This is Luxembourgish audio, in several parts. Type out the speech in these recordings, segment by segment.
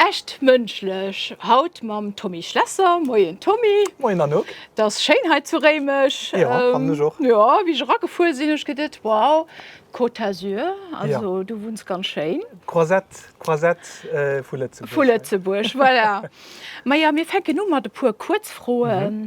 Echt mënschlech haut mam Tommy Schlesser. Moien Tommy. Moien Anouk. Et ass schéin hei zu Réimech. Jo, fannen ech och. Jo, wéi ech eragefuer sinn, hu ech geduet, wow, Côte d'Azur, also du wunns ganz schéin. D'Croisette, d'Croisette vu Lëtzebuerg. Vu Lëtzebuerg, voilà. Majo, mir fänken u mat e puer Kuerzfroen.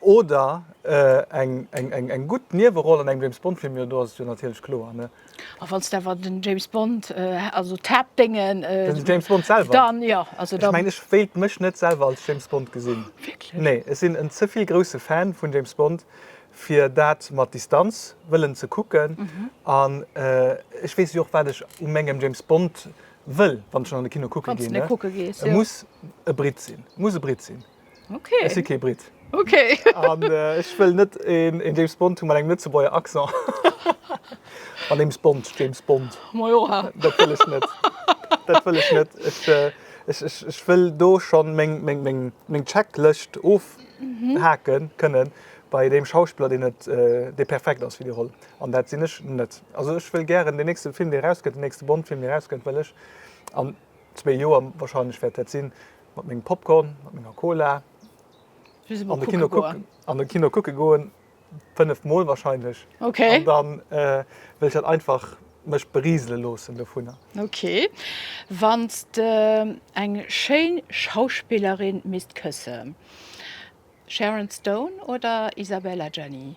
Oder eng gutt Nieweroll an engem James Bond Film, jo do ass et jo natierlech kloer ne. A wann s de awer den James Bond, also d'Haaptdéngen. Den James Bond selwer? Dann jo. Ech mengen ech wéilt mech net selwer als James Bond gesinn. Wierklech? Nee, ech sinn en ze vill grousse Fan vun James Bond fir dat mat Distanz wëllen ze kucken. An ech weess jo och wat ech u mengem James Bond wëll wann ech schon an de Kino kucke ginn, e muss e Brit sinn, e muss e Brit sinn. Ech si kee Brit. An ech wëll net een James Bond hu mat engem Lëtzebuerger Accent. An Ames Bond, James Bond, dat wëll ech net. Dat wëll ech net. Ech wëll do schon meng Checklëscht ofhake kënnen bei deem Schauspiller, deen et, dee perfekt ass fir déi Roll. An dat sinn ech net. Also ech wëll gären deen nächste Film, dee erausgëtt, deen nächste Bond-Film, dee erausgëtt, wëll ech an zwee Joer wahrscheinlech wäert dat sinn, mat mengem Popcorn, mat menger Cola an de Kino kucke goen, fënnef Mol wahrscheinlech. An da wëll ech dat einfach mech beriisele loossen dovunner. Okay. Wann s de eng schéin Schauspillerin misst këssen, Sharon Stone oder Isabelle Adjani?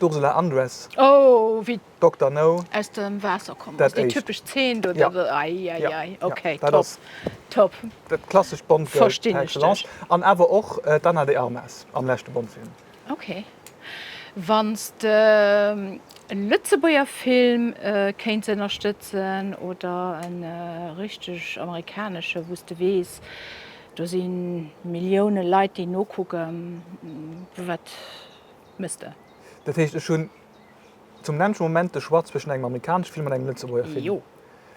D'Ursula Andress, Dokter No. Aus dem Waasser komm ass. Déi typesch Zeen do. Ai, ai, ai. Okay, top. Top. Dat klassescht Bond-Girl par excellence. An awer och d'Anna de Armas am leschte Bond-Film. Okay. Wann s de e Lëtzebuerger Film kéints ënnerstëtzen oder e richteg amerikanesche wou s de weess, do si Millioune Leit déi nokucken, wat. Mister. Dat heescht, ech hunn zum längschen Moment de Choix zwëschen engem amerikaneschen Film an engem Lëtzebuerger Film. Jo.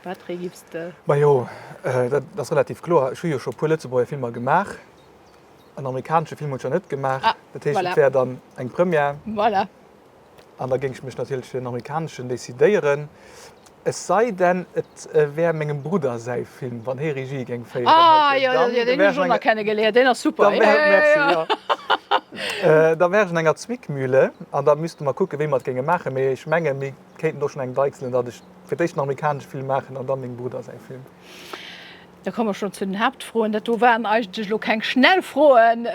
Wat fir ee giffs de? Majo, dat ass relativ kloer. Ech hu jo scho e puer Lëtzebuerger Filmer gemaach. En amerikaneschen Film hunn ech nach net gemaach. Ah, voilà. Dat heescht, et wär dann eng Première. Voilà. An da géing ech mech natierlech fir en amerikaneschen decidéieren. Es sei denn et wär mengem Brudder säi Film, wann hee Regie géing féieren hätt hien dann, da wär ech an enger, da wär ech an enger Zwickmühle an da misste mer kucke wéi mer et géinge maachen, mee ech menge mir kéinten och schonn eng deichselen, datt ech fir d'éischt en amerikanesche Film maachen an da mengem Brudder säi Film. Da komme mer schonn zu den Haaptfroen. Dat do waren eigentlech elo keng schnell Froen.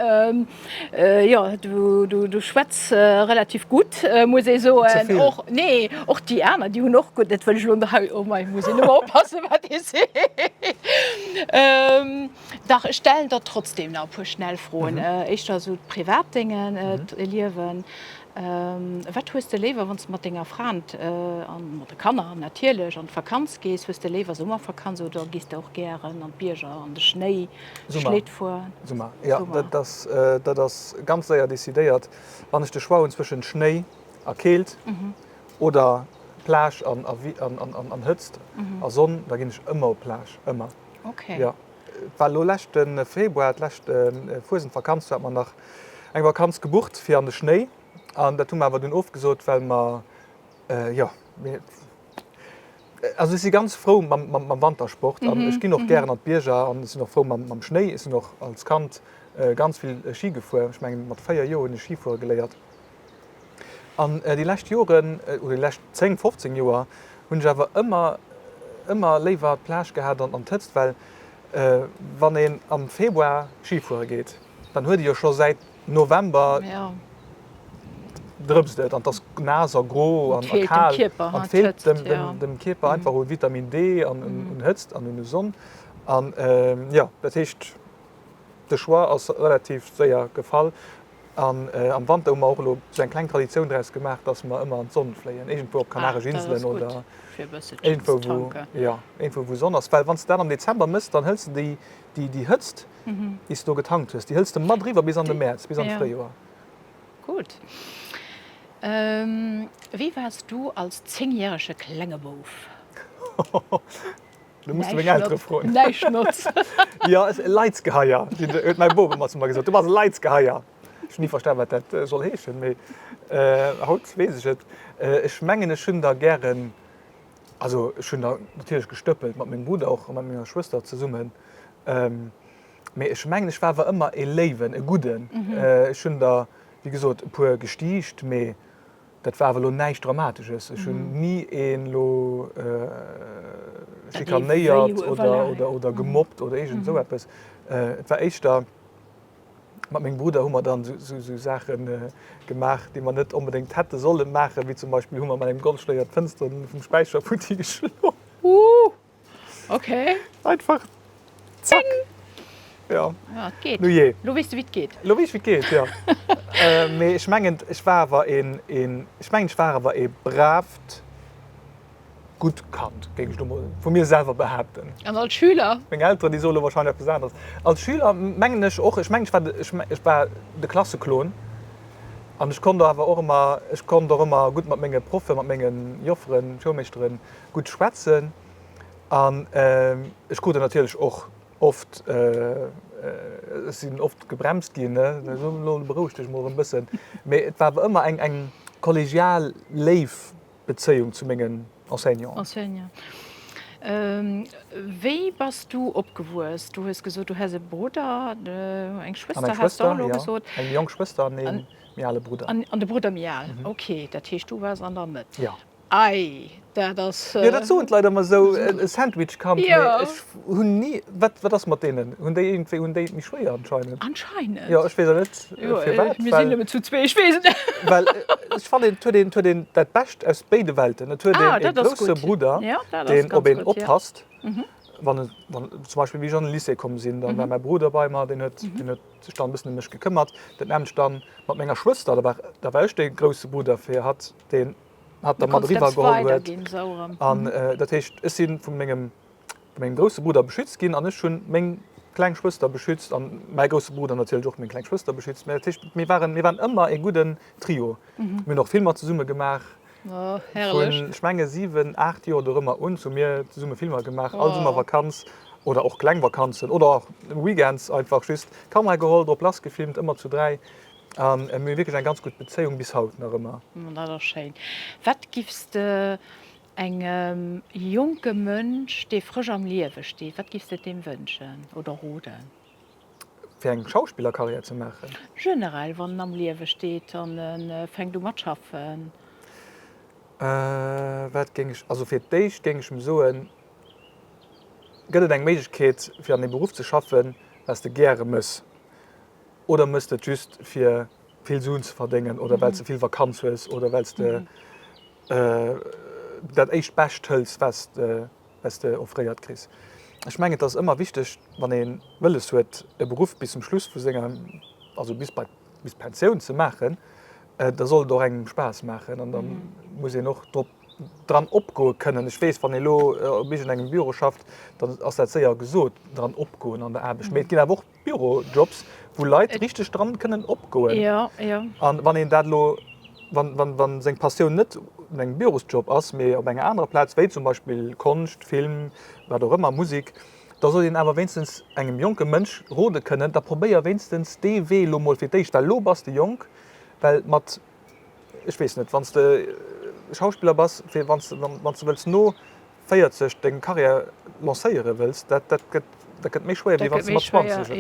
Jo, du schwätz relativ gutt, muss ee soen. Ze vill? Och, nee, och déi aner, déi hunn och gutt, dat wëll ech elo hei, oh mei, muss een ëmmer oppassen, wat ee seet. Dach, ech stellen der trotzdeem nach e puer schnell Froen. Éischter esou d'privat Déngen, d'Liewen. Wat hues de léiwer wann s de mat denger Frend a mat de Kanner natierlech an d'Vakanz gees? Hues de léiwer Summervakanz oder gees de och gären an d'Bierger an de Schnéi Schlétt fueren? Summer, jo dat ass ganz séier decidéiert. Wann ech de Choix hunn zwëschen Schnéi a Keelt oder Plage an Hëtzt a Sonn, da ginn ech ëmmer op d'Plage, ëmmer. Et war elo leschte Februar, d'lescht Fuesendvakanz, hat mer nach eng Vakanz gebucht fir an de Schnéi. An dat hu mer awer dunn ofgesot, well mer, jo, mir, also ech si ganz frou mam Wantersport an ech ginn och gären an d'Bierger an ech sinn och frou mam Schnéi. Ech sinn och als Kand ganz vill Schi gefuer. Ech mengen, mat véier Joer hunn ech Schifuere geléiert. An déi lescht Joren, oder déi lescht 10, 15 Joer hunn ech awer ëmmer, ëmmer léiwer d'Plage gehat an d'Hëtzt, well wann een am Februar Ski fuere geet, dann huet ee jo scho säit November, drëpst et an et ass naass a gro a kal an et feelt dem Kierper einfach u Vitamin D an un Hëtzt an un Sonn. An jo, dat heescht, de Choix ass relativ séier gefall. An am Wanter hu mer och elo sou eng kleng Traditioun draus gemaach, dass mer ëmmer an d'Sonn fléien, iergendwou op Kanaresch Inselen oder iergendwou, wou, jo, iergendwou, wou Sonn ass. Well wann s de dat am Dezember méchs, dann hëls de déi, déi Hëtzt, déi s de do getankt hues, déi hëls de mat eriwwer bis an de Mäerz, bis an d'Fréijoer. Gutt. Wéi waars du als zéngjärege klenge Bouf? Du muss meng Eltere froen. Näischt notzt. Jo, e Leidsgeheier, huet mäi Bop ëmmer zu mer gesot. Du bass e Leidsgeheier. Ech hu ni verstan, wat dat soll heeschen, mee haut weess ech et. Ech mengen, ech hunn der gären, also ech hunn der natierlech gestëppelt, mat mengem Brudder och a mat menger Schwëster zesummen. Mee ech mengen, ech war awer ëmmer e Léiwen, e Gudden. Ech hunn der, wéi gesot, e puer gestiicht, mee. Dat war awer elo näischt Dramatesches. Ech hunn ni een elo schikanéiert oder gemobbt oder iergend esou eppes. Et war éischter, mat mengem Brudder hu mer dann esou Saache gemaach, déi mer net onbedéngt hätte solle maachen, wéi zum Beispill hu mer mat engem Golfschléier d'Fënstere vum Späicher futti geschloen. Okay. Einfach. Zack. Ding. Ja. Ja, et geet. Nu jee. Lo weess du, wéi et geet. Lo weess ech, wéi et geet, ja. Mee ech mengen, ech war awer een, een, ech mengen, ech war awer ee bravt, gutt Kand, géing ech elo mol vu mir selwer behaapten. An als Schüler? Meng Elteren, déi soe lo warscheinlech eppes aneres. Als Schüler mengen ech och, ech mengen, ech war de, ech, ech war de Klasseclown. An ech konnt awer och ëmmer, ech konnt och ëmmer gutt mat menge Proffe, mat menge Jofferen, Schoulmeeschteren, gutt schwätzen an ech krute natierlech och oft, ech sinn oft gebremst ginn, elo beroueg dech mol erëm e bëssen, mee et war awer ëmmer eng kollegial, léif Bezéiung zu mengen Enseignanten. Wéi bass du opgewuess? Du hues gesot, du häss e Brudder, eng Schwëster häss de och elo gesot. Eng jonk Schwëster an ee méi ale Brudder. An de Brudder méi al, okay. Dat heescht, du waars an der Mëtt. Ei, dat ass. Jo, dat soen d'Leit ëmmer esou, e Sandwich-Kand. Jo. Mee ech hunn ni. Wat, wat ass mat deenen? Hunn déi iergendwéi, hunn déi et méi schwéier anscheinend? Anscheinend. Jo, ech weess och net firwat, well. Mir sinn nëmmen zu zwee, ech weess et net. Well ech fannen, et huet een, et huet een dat Bescht aus béide Welten. Et huet een e grousse Brudder, deen op een oppasst, wann en, wann, zum Beispill wéi ech an de Lycée komm sinn, da war mäi Brudder bei mer, deen huet, deen huet sech dann e bëssen ëm mech gekëmmert. Dat naamt ech dann mat menger Schwëster, da war, da war ech de grousse Brudder fir hatt, deen. hat da mat eriwwer geholl huet. An dat heescht, ech si vu mengem grousse Brudder beschützt ginn an ech hu meng kleng Schwëster beschützt an mäi grousse Brudder natierlech och meng kleng Schwëster beschützt. Dat heescht, mir waren ëmmer ee gudden Trio. Mir hunn och Filmer zesumme gemaach. Vun, ech menge siwen, aacht Joer dorëmmer un hu mir zesumme Filmer gemaach. All Summervakanz oder och kleng Vakanzen oder och Weekends einfach just d'Kamera geholl, drop lassgefilmt, ëmmer zu dräi. An mir hunn wierklech eng ganz gutt Bezéiung, bis haut nach ëmmer. Oh, dat ass schéin. Wat giffs de engem jonke Mënsch, dee frësch am Liewe steet, wat giffs de deem wënschen oder roden? Fir eng Schauspillercarrière ze maachen? Generell, wann en am Liewe steet an e fänkt u mat schaffen. Wat géing ech, also fir d'éischt géing ech em soen, Gëtt et eng Méiglechkeet, fir an deem Beruff ze schaffen, wat s de gäre méchs? Oder mëss de et just fir vill Suen ze verdéngen oder well s de vill Vakanz hues oder well s de dat éischt Bescht hëls, wat s de offréiert kriss? Ech mengen, et ass ëmmer wichteg, wann ee wëlles huet, e Beruff bis zum Schluss vu senger, also bis bei d'Pensioun ze maachen, da soll et och engem Spaass maachen an da muss een och drop, dran opgoe kënnen. Ech weess, wann ee lo op iergendengem Büro schafft, dann ass dat séier gesot, dran opgoen an der Aarbecht. Mee et ginn awer och Bürojobs, wou Leit richteg dran kënnen opgoen. Jo, jo. A wann een dat elo, wann, wann seng Passioun net an engem Bürosjob ass, mee op enger anerer Plaz, wéi zum Beispill Konscht, Film, wat och ëmmer, Musik, da sollt een awer wéinstens engem jonke Mënsch rode kënnen, da probéier wéinstens dee Wee elo mol fir d'éischt, well elo bass de jonk, well mat, ech weess net, wann s de Schauspiller bass, fir wann s de, wann s de wëlls no 40 deng Carrière lancéiere wëlls, dat gëtt méi schwéier, wéi wann s de mat 20 et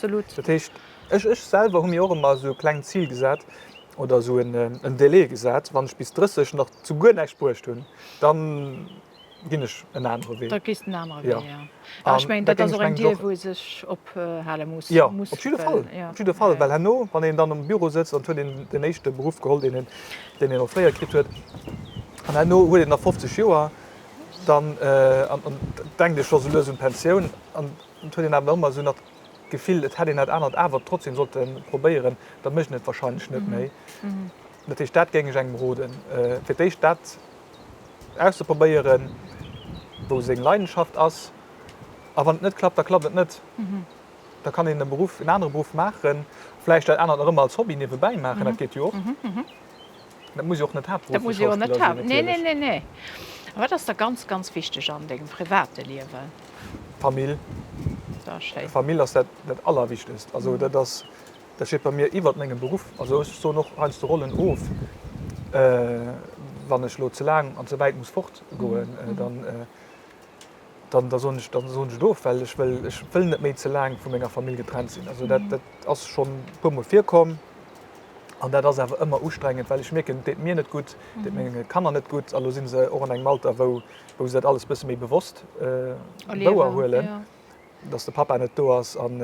méchs. Dat heescht, ech selwer hu mir och ëmmer esou e klengt Zil gesat oder esou en Delai gesat, Wann ech bis 30 nach zu guer näischt bruecht hunn, da ginn ech en anere Wee. A ech mengen, dat ass och eng Dier, wou ee sech ophale muss. Jo, op jidde Fall. Op jidde Fall. Well herno, wann een dann am Büro sëtzt an et huet een deen éischte Beruff geholl, deen een, deen een och fréier kritt huet, an herno huet een nach 50 Joer, dann denkt ee scho sou lues un d'Pensioun. An et huet een awer ëmmer esou nach d'Gefill, et hätt een dat anert awer trotzdeem sollte probéieren, da mécht een et warscheinlech net méi. Dat heescht, dat géing ech engem roden, fir d'éischt dat auszeprobéieren, wou seng Leidenschaft ass. A wann et net klappt, da klappt et net. Da kann een e Beruff, en anere Beruff maachen, vläicht dat anert nach ëmmer als Hobby niewebäi maachen, dat geet jo och. Dat muss jo och net haaptberufflech Schauspiller sinn natierlech. Nee, nee, nee. A wat ass der ganz, ganz wichteg an dengem private Liewen? D'Famill. Famill ass dat Allerwichtegst. Also dat ass. Dat steet bei mir iwwert mengem Beruff. Also ech soen och heiansdo Rollen of, wann ech elo ze laang an ze wäit muss fort goen, dann da soen ech dann soen ech et of, well ech wëll ech wëll net méi ze laang vu menger Famill getrennt sinn. Also dat dat ass schonn e puer mol virkomm an dat ass awer ëmmer ustrengend, well ech mierken, et deet mir net gutt, et deet menge Kanner net gutt. Elo si se och an engem Alter, wou wou se dat alles e bësse méi bewosst wouerhuelen. dass de Papa net do ass an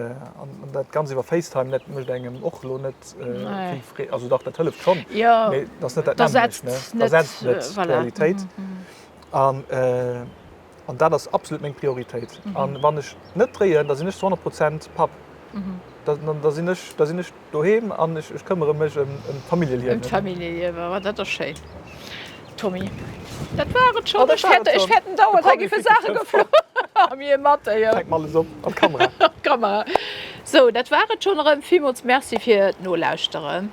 dat ganz iwwer FaceTime net mécht engem och lo net vill Freed. Also dach dat hëlleft schonn, mee et ass net dat nämmlecht, et ersetzt net d'Realitéit. An dat ass absolut meng Prioritéit. An wann ech net dréien, da sinn ech zu 100 Prozent Papp, da sinn ech, Doheem an ech këmmere mech ëm d'Familljeliewen. Ëm d'Familljeliewen, ma dat ass schéin, Tommy. Dat war et schonn. Ech fäerten dauernd, hei giffe Saache geflunn a mir mat. Fänk mer alles op, an d'Kamera. An d'Kamera. Sou, dat war et schonn erëm. Villmools Merci fir d'Nolauschteren.